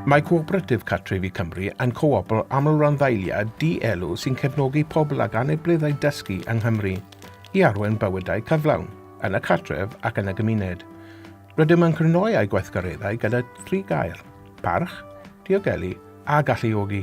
Mae Cooperative Cartrefi Cymru yn coopl amlranddeiliad di-elw sy'n cefnogi pobl ag anableddau dysgu yng Nghymru i arwain bywydau cyflawn, yn y cartref ac yn y gymuned. Rydym yn crynhoi â'i gweithgareddau gyda thri gair, parch, diogelu a galluogi.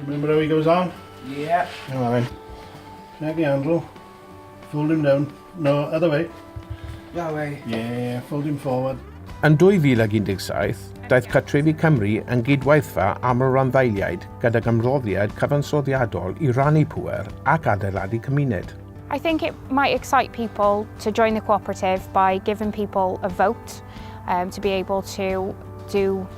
Remember how he goes on? Yeah. Come on then. Snag the handle. Fold him down. No, other way. That way. Yeah, fold him forward. Yn 2017, daeth Catrefi Cymru yn gydwaithfa am y randdeiliaid gyda gymroddiad cyfansoddiadol i rannu pwer ac adeiladu cymuned. I think it might excite people to join the cooperative by giving people a vote um, to be able to do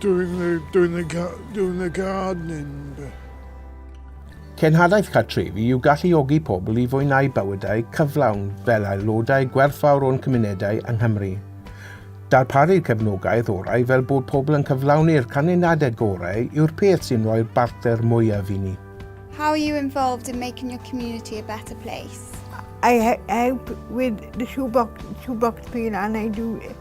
Doing the, doing the, doing the gardening bit. Cenhadaeth cartrefi yw galluogi pobl i fwynhau bywydau cyflawn fel aelodau gwerthfawr o'n cymunedau yng Nghymru. Darparu cefnogaeth orau fel bod pobl yn cyflawni'r canlyniadau gorau yw'r peth sy'n rhoi'r bartner mwyaf i ni. How are you involved in making your community a better place? I help with the shoebox, shoebox peel and I do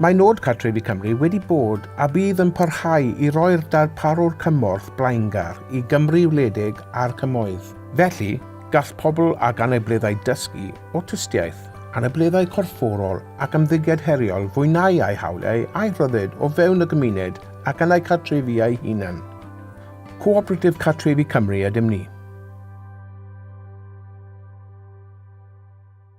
Mae Nod Cartrefi Cymru wedi bod a bydd yn parhau i roi'r darparwr cymorth blaengar i Gymru wledig a'r Cymoedd. Felly, gall pobl ag anableddau dysgu, awtistiaeth, anableddau corfforol ac ymddygiad heriol fwynhau eu hawliau a'u rhyddid o fewn y gymuned ac yn eu cartrefi eu hunain. Cooperatif Cartrefi Cymru ydym ni.